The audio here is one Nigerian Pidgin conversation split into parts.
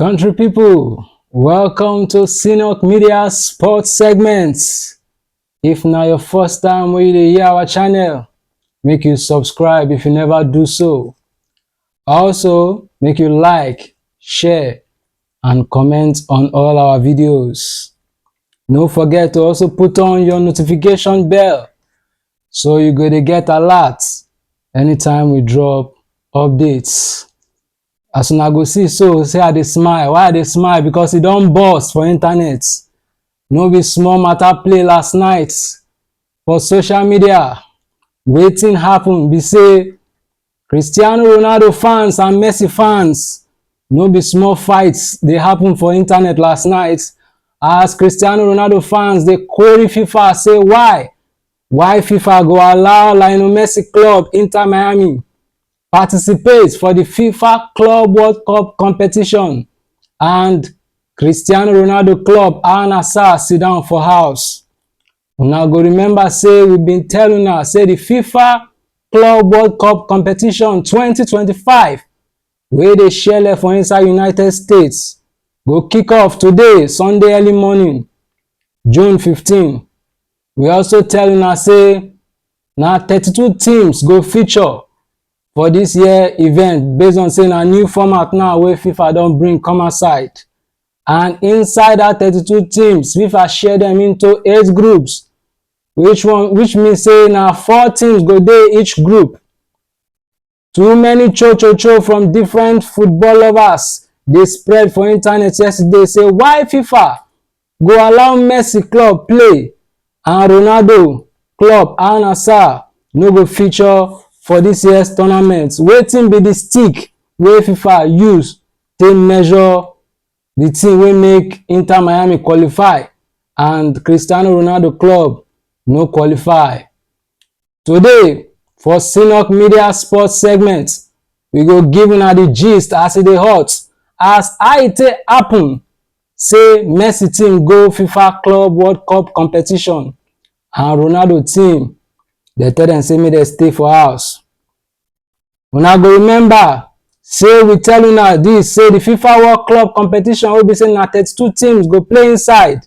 Country people, welcome to Synod Media Sports Segment. If na your first time wey you dey hear our channel, make you subscribe if you never do so. Also, make you like, share, and comment on all our videos. No forget to also put on your notification bell so you go dey get alert anytime we drop updates. As una go see so say I dey smile, why I dey smile because e don burst for internet. No be small matter play last night for social media. Wetin happen be say Cristiano Ronaldo fans and Messi fans no be small fight dey happen for internet last night as Cristiano Ronaldo fans dey query FIFA say why why FIFA go allow Lionel Messi club Inter Miami participate for di fifa club world cup competition and cristiano ronaldo club al nassr sit down for house una go remember say we bin tell una say di fifa club world cup competition 2025 wey dey shele for inside united states go kick off today sunday early morning june 15 We also tell una say na 32 teams go feature for this year event based on say na new format now wey FIFA don bring come outside. And inside that 32 teams, FIFA share them into eight groups, which one which mean say na four teams go dey each group. Too many cho-cho-cho from different football lovers dey spread for internet yesterday say why FIFA go allow Messi club play and Ronaldo club Al Nassr no go feature for this year's tournament. Wetin be the stick wey FIFA use take measure the thing wey make Inter Miami qualify and Cristiano Ronaldo club no qualify? Today, for Sinok Media Sports segment, we go give una the gist as e dey hot as how e take happen say Messi team go FIFA Club World Cup competition and Ronaldo team dey tell dem say make dem stay for house. Una go remember say we tell una this say the FIFA World Club competition wey be say na thirty-two teams go play inside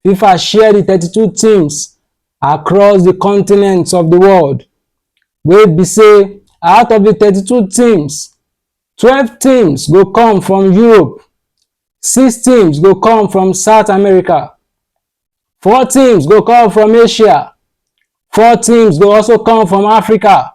FIFA share di 32 teams across di continents of di world wey be say out of di 32 teams, 12 teams go come from Europe, six teams go come from South America, four teams go come from Asia, four teams go also come from Africa,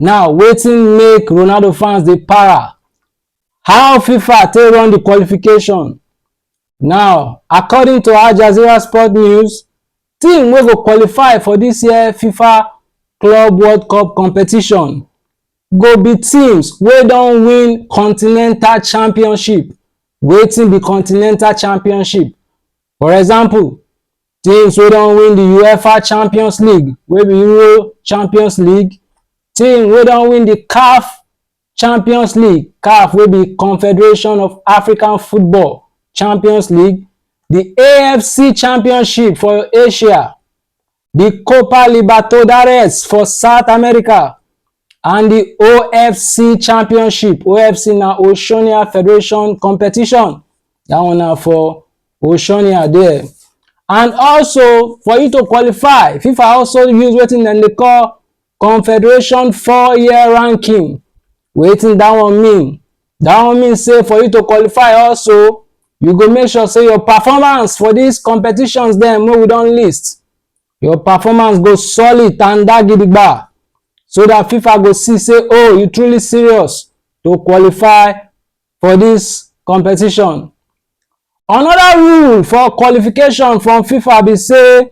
Now, wetin make Ronaldo fans dey para? How FIFA take run the qualification? Now, according to Al Jazeera Sport News, team wey go qualify for this year FIFA Club World Cup competition go be teams wey don win continental championship. Wetin be continental championship? For example, Teams wey don win the UEFA Champions League wey be Euro Champions League, team wey don win the CAF Champions League, CAF wey be Confederation of African Football Champions League, the AFC Championship for Asia, the Copa Libertadores for South America, And di OFC Championship, OFC na Oceania Federation competition, dat one na for Oceania there. And also, for you to qualify, FIFA also use wetin dem dey call Confederation four-year ranking. Wetin dat one mean? Dat one mean sey for you to qualify also, you go make sure sey your performance for dis competitions dem wey we don list, Your performance go solid tanda gidigba so that FIFA go see say oh you truly serious to qualify for this competition. Another rule for qualification from FIFA be say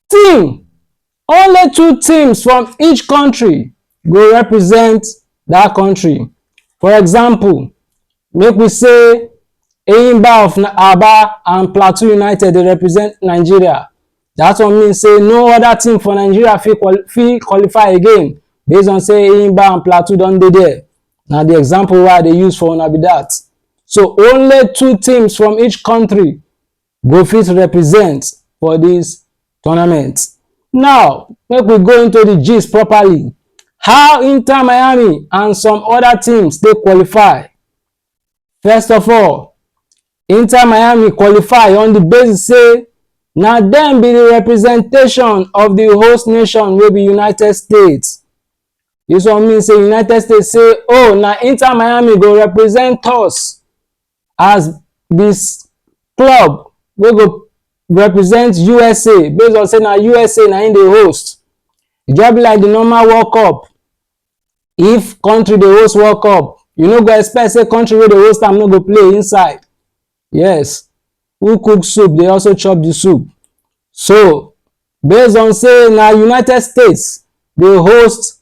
team only two teams from each country go represent that country for example make we say Eyimba of Aba and Plateau United dey represent Nigeria that one mean say no other team for Nigeria fit fit qualify again based on say Eyimba and Plateau don dey there na the example wey I dey use for una be that so only two teams from each country go fit represent for this tournament. Now, make we go into the gist properly. How Inter Miami and some other teams dey qualify. First of all, Inter Miami qualify on the basis say na dem be the representation of the host nation wey be United States. This one mean say United States say, oh, na Inter Miami go represent us as di club wey go represent usa based on say na usa na im dey host e just be like di normal world cup if country dey host world cup you no go expect say country wey dey host am no go play inside yes who cook soup dey also chop di soup so based on say na united states dey host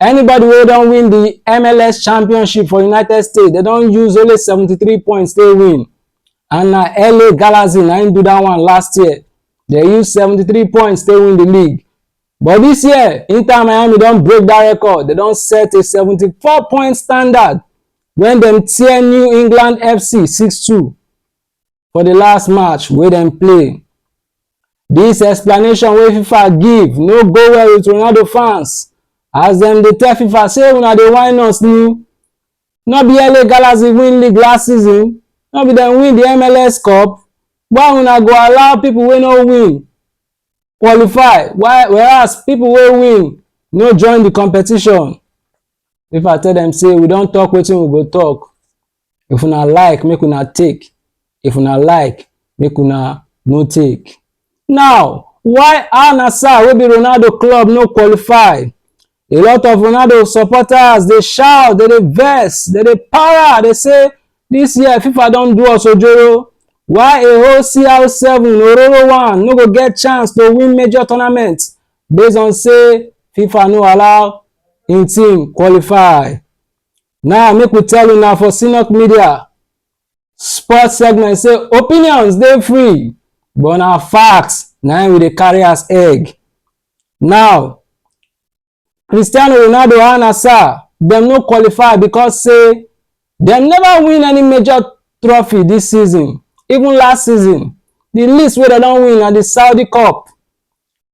Anybody wey don win di MLS championship for United States, dem don use only seventy three points take win and na LA Galaxy na im do dat one last year. Dem use seventy three points take win di league. But dis year, Inter Miami don break dat record, dem don set a seventy four point standard wen dem tear New England FC six two. for the last match wey dem play. This explanation wey fifa give no go well with ronaldo fans as dem dey tell fifa say una dey whine us ni no be la galaxy win league last season no be dem win the mls cup why una go allow people wey no win qualify why whereas people wey win no join the competition fifa tell dem say we don talk wetin we go talk If una like, make una take. If una like, make una no take. Now, why Al Nassr wey be Ronaldo club no qualify? A lot of Ronaldo supporters dey shout, dey dey vex, dey dey para, dey say this year FIFA don do us ojoro. Why a whole CR7 Ororo one no go get chance to win major tournament based on say FIFA no allow im team qualify? Now make we tell you now for Sinok Media sports segment say opinions dey free but na facts na we dey carry as egg. Now Cristiano Ronaldo and Asa dem no qualify because say dem never win any major trophy this season even last season the least wey dem don win na the Saudi Cup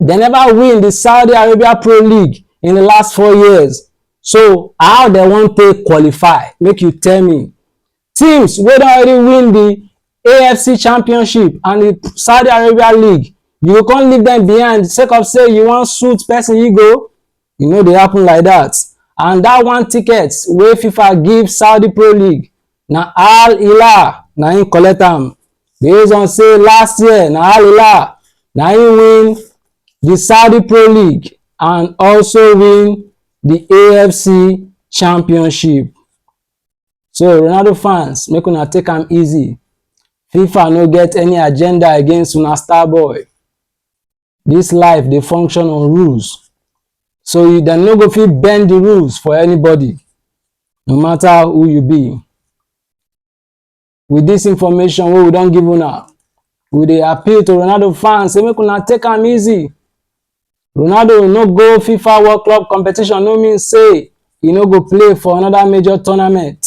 They never win the Saudi Arabia Pro League in the last four years. So how they wan take qualify? Make you tell me. Teams wey don already win the AFC Championship and the Saudi Arabia League, you go come leave them behind sake of say you wan suit person ego? E no dey happen like that and that one ticket wey FIFA give Saudi Pro League na Al Hilal na im collect am based on say last year na Al Hilal na im win the Saudi Pro League and also win the AFC Championship. So Ronaldo fans make una take am easy. FIFA no get any agenda against una star boy. This life dey function on rules. So you dem no go fit bend the rules for anybody, no matter who you be. With this information wey we don give una, we dey appeal to Ronaldo fans say make una take am easy. Ronaldo no go FIFA World Club competition no mean say e no go play for another major tournament.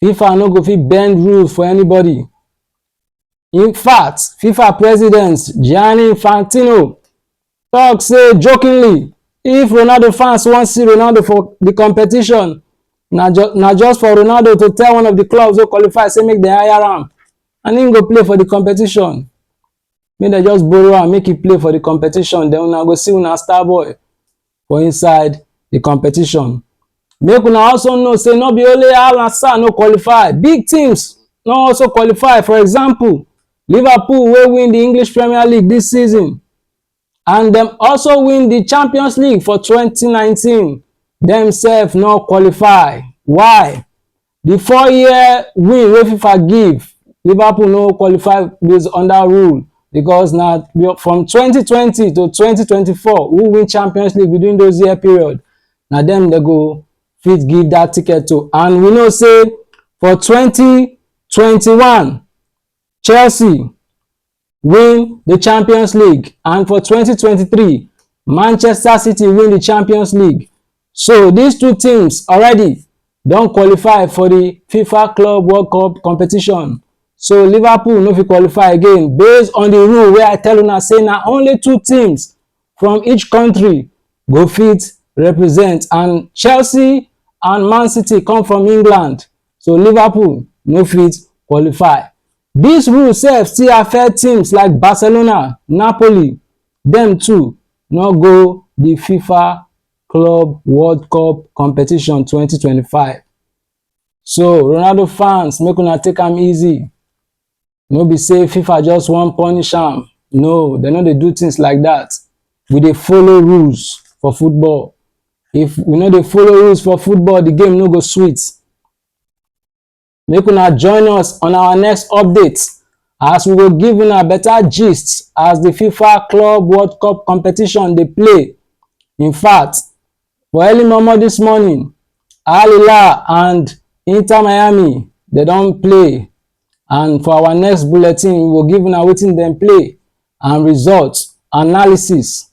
FIFA no go fit bend rules for anybody. In fact, FIFA president Gianni Infantino talk say jokingly, if Ronaldo fans wan see Ronaldo for the competition, na ju na just for Ronaldo to tell one of the clubs wey qualify say make dem hire am and im go play for the competition. Make dem just borrow am make e play for the competition, then una go see una star boy. for inside the competition make una also know say no be only al nassr no qualify big teams no also qualify for example liverpool wey win the english premier league this season and dem also win the champions league for 2019 dem sef no qualify why Di four-year win wey fifa give Liverpool no qualify based under rule because na from twenty twenty to twenty twenty four who win Champions League within those year period na dem dem go fit give that ticket to and we know say for twenty twenty one Chelsea win di champions league and for 2023 manchester city win di champions league so dis two teams already don qualify for di fifa club world cup competition so liverpool no fit qualify again based on di rule wey i tell una say na only two teams from each country go fit represent and chelsea and man city come from england so liverpool no fit qualify Dis rule sef still affect teams like Barcelona, Napoli, dem too no go di Fifa Club World Cup competition twenty twenty five. So Ronaldo fans make una take am easy, no be say Fifa just wan punish am, no dem no dey do things like that. We dey follow rules for football, if we no dey follow rules for football the game no go sweet. make una join us on our next update as we go give una better gist as the fifa club world cup competition dey play in fact for early momo this morning al hilal and inter miami dey don play and for our next bulletin we go give una wetin dem play and results analysis